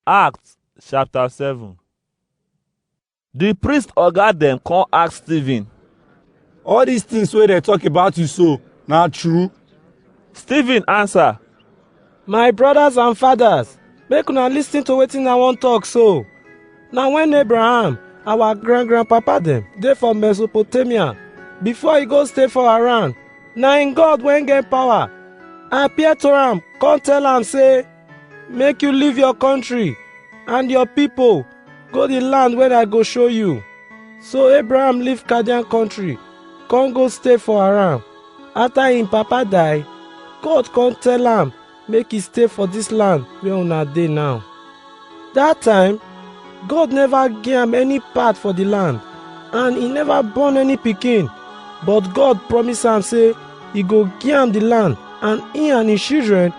Acts chapter 7 The priest oga dem come ask Stephen. all these things wey dem talk about you so na true Stephen answer, My brothers and fathers, make una listen to wetin I wan talk so. Na when Abraham, our grand grandpapa dem, dey for Mesopotamia, before he go stay for Haran, na him God wey get power appear to am come tell am say, make you leave your country and your people go the land wey I go show you. So Abraham leave Chaldean country, come go stay for Haran. After him papa die, God come tell am make he stay for this land where una dey now. That time, God never give am any part for the land, and he never born any pikin. But God promise am say he go give am the land, and he and his children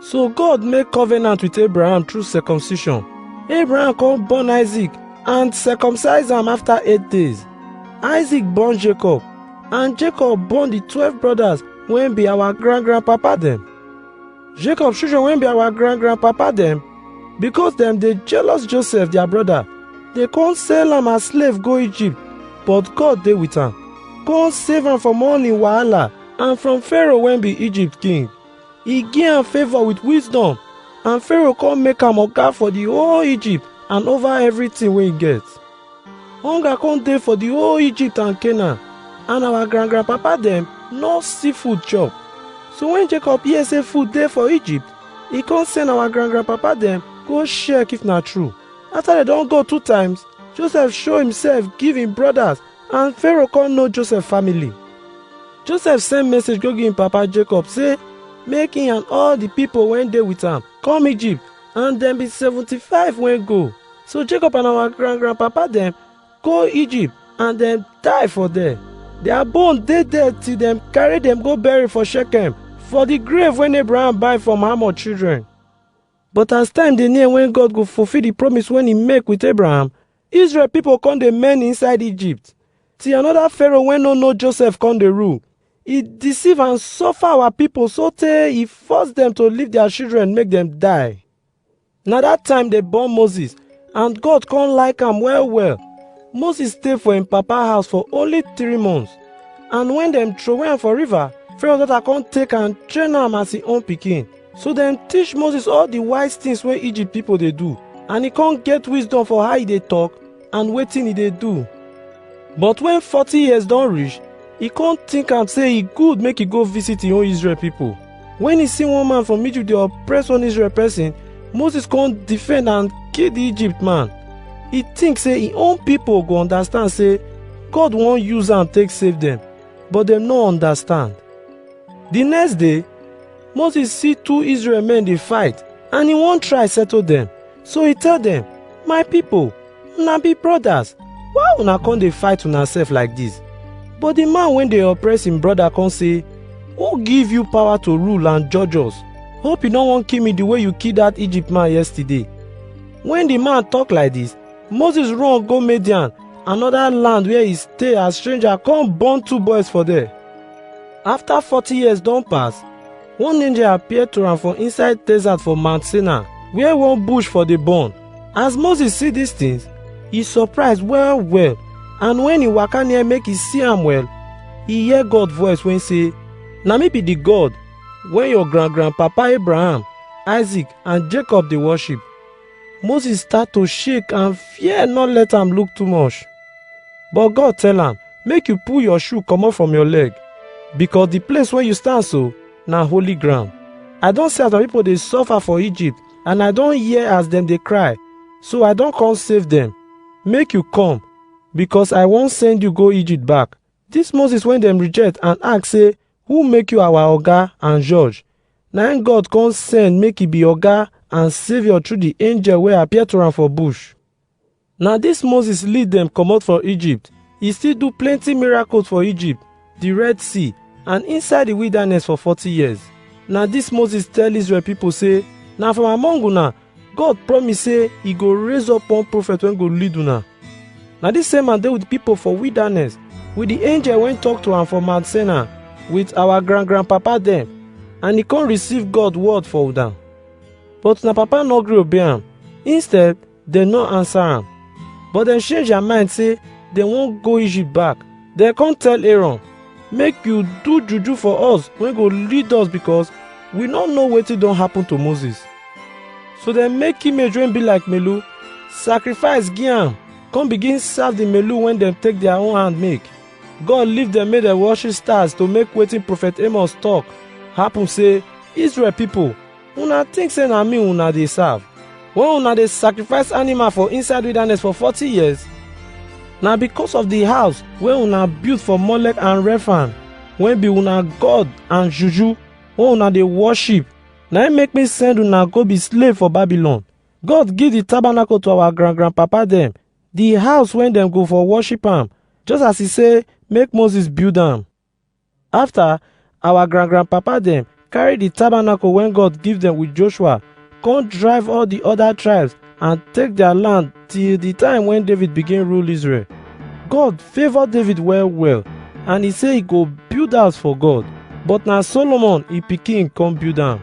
So God make covenant with Abraham through circumcision. Abraham come born Isaac and circumcise am after eight days. Isaac born Jacob and Jacob born the twelve brothers wey be our grand grandpapa dem. Jacob children wey be our grand grandpapa dem because dem dey jealous Joseph their brother dey come sell am as slave go Egypt but God dey with am come save am from all im wahala and from Pharaoh wey be Egypt king. e give am favour with wisdom and Pharaoh come make am oga for the whole Egypt and over everything wey e get. Hunger come dey for the whole Egypt and Canaan and our grand grandpapa dem no see food chop. So when Jacob hear say food dey for Egypt, e come send our grand grandpapa dem go check if na true. After dem don go two times, Joseph show himself give him brothers And Pharaoh come know Joseph family. Joseph send message go give him papa Jacob say make him and all the people wey dey with am come Egypt and dem be seventy-five wey go. So Jacob and our grand grandpapa dem go Egypt and dem die for there. Their bone dey there till dem carry dem go bury for Shechem for the grave wey Abraham buy from Hamor children. But as time dey near when God go fulfill the promise wey he make with Abraham, Israel pipo con dey many inside Egypt, till another Pharaoh wey no know Joseph con dey rule. E deceive and suffer our pipo sotey e force dem to leave their children make dem die. Na dat time dem born Moses and God con like am well well. Moses stay for im papa house for only three months and wen dem throway am for river, Pharaoh daughter con take am train am as im own pikin. So dem teach Moses all the wise things wey Egypt people dey do, and e come get wisdom for how e dey talk and wetin e dey do. But when forty years don reach, e come think am say e good make e go visit im own Israel people. When e see one man from Egypt dey oppress one Israel person, Moses come defend and kill the Egypt man. E think say im own people go understand say God wan use am take save dem, but dem no understand. The next day, Moses see two Israel men dey fight and he wan try settle dem. So he tell dem, My people, una be brothers, why una come dey fight una sef like dis? But the man wey dey oppress him brother come say, Who give you power to rule and judge us? Hope you no wan kill me the way you kill that Egypt man yesterday. When the man talk like this, Moses run go Midian, another land where he stay as stranger come born two boys for there. After forty years don pass, one angel appear to am for inside desert for Mount Sinai, where one bush for dey burn. As Moses see dis things, e surprise well well, and when e waka near make e see am well, e hear God voice wey say, Na me be the God wey your grand-grandpapa Abraham, Isaac and Jacob dey worship. Moses start to shake and fear no let am look too much. But God tell am, make you pull your shoe comot from your leg, because the place where you stand so na holy ground. I don see as my people dey suffer for Egypt, and I don hear as dem dey cry, so I don come save dem. Make you come, because I wan send you go Egypt back, Dis Moses wey dem reject and ask sey, Who make you our oga and judge? Na im God come send make e be oga and saviour through the angel wey appear to am for bush. Na dis Moses lead dem comot for Egypt. E still do plenty miracles for Egypt, the Red Sea and inside the wilderness for forty years. Na dis Moses tell Israel people sey, Na from among una God promise say e go raise up one prophet wey go lead una. Na dis same man dey with pipo for wilderness, with di angel wey tok to am for Mount Sinai, with our grand-grandpapa dem, and e come receive God word for una. But una papa no gree obey am, instead, dem no answer am. But dem change their mind say dem wan go Egypt back. Dem come tell Aaron, make you do juju for us wey go lead us because we no know wetin don happen to Moses. So dem make image wey be like melu, sacrifice give am, come begin serve the melu wey dem take their own hand make. God leave dem make dem worship stars to make wetin prophet Amos talk happen say Israel people una think say na me una dey serve when una dey sacrifice animal for inside wilderness for forty years na because of the house wey una build for molek and refan wey be una god and juju wey una dey worship na im make me send una go be slave for babylon god give the tabernacle to our grand grand papa dem the house wey dem go for worship am just as he say make moses build am After, our grand grand papa dem carry the tabernacle wey God give them with Joshua, come drive all the other tribes and take their land till the time when David begin rule Israel. God favor David well well and he say he go build house for God, but na Solomon he pikin come build am.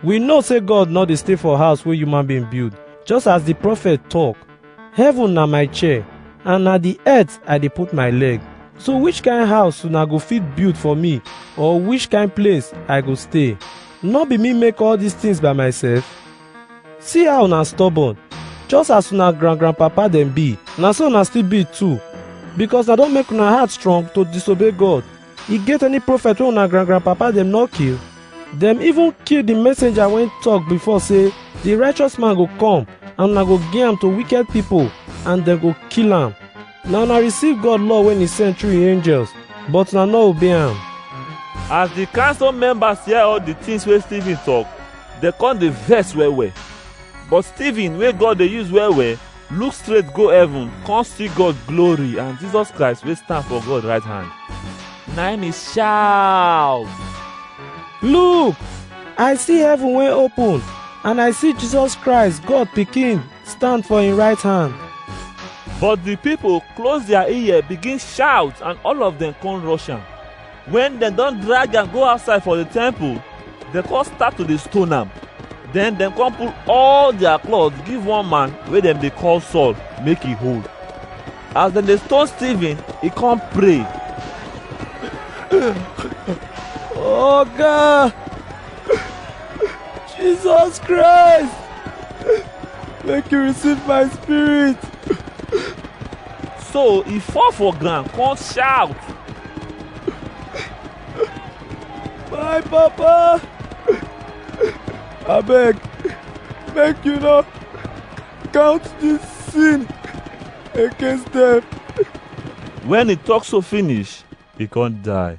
We know say God no dey stay for house wey human being build, just as the prophet talk. Heaven na my chair, and na the earth I dey put my leg. So which kind house una go fit build for me, or which kind place I go stay? No be me make all these things by myself? See how una stubborn, just as una grand grandpapa dem be, na so una still be too. Because I don make una heart strong to disobey God, E get any prophet wey una grand grand papa dem no kill? Dem even kill the messenger wey talk before say the righteous man go come and una go give am to wicked people and dem go kill am. Na una receive God law wey he send through him angels but una no obey am. As the council members hear all the things wey Stephen talk, dem come dey vex well well. But Stephen wey God dey use well well look straight go heaven come see god glory and jesus christ wey stand for god right hand na him he shout look i see heaven wey open and i see jesus christ god pikin stand for him right hand but the people close their ear begin shout and all of them come rush am Wen dem don drag am go outside for di temple, dem come start to dey stone am. Den dem come pull all dia cloth give one man wey dem dey call Saul make e hold. As dem dey stone Stephen, e come pray. Oga, Jesus Christ, make you receive my spirit. so e fall for ground come shout my papa abeg make you no count this sin against them. when e talk so finish e come die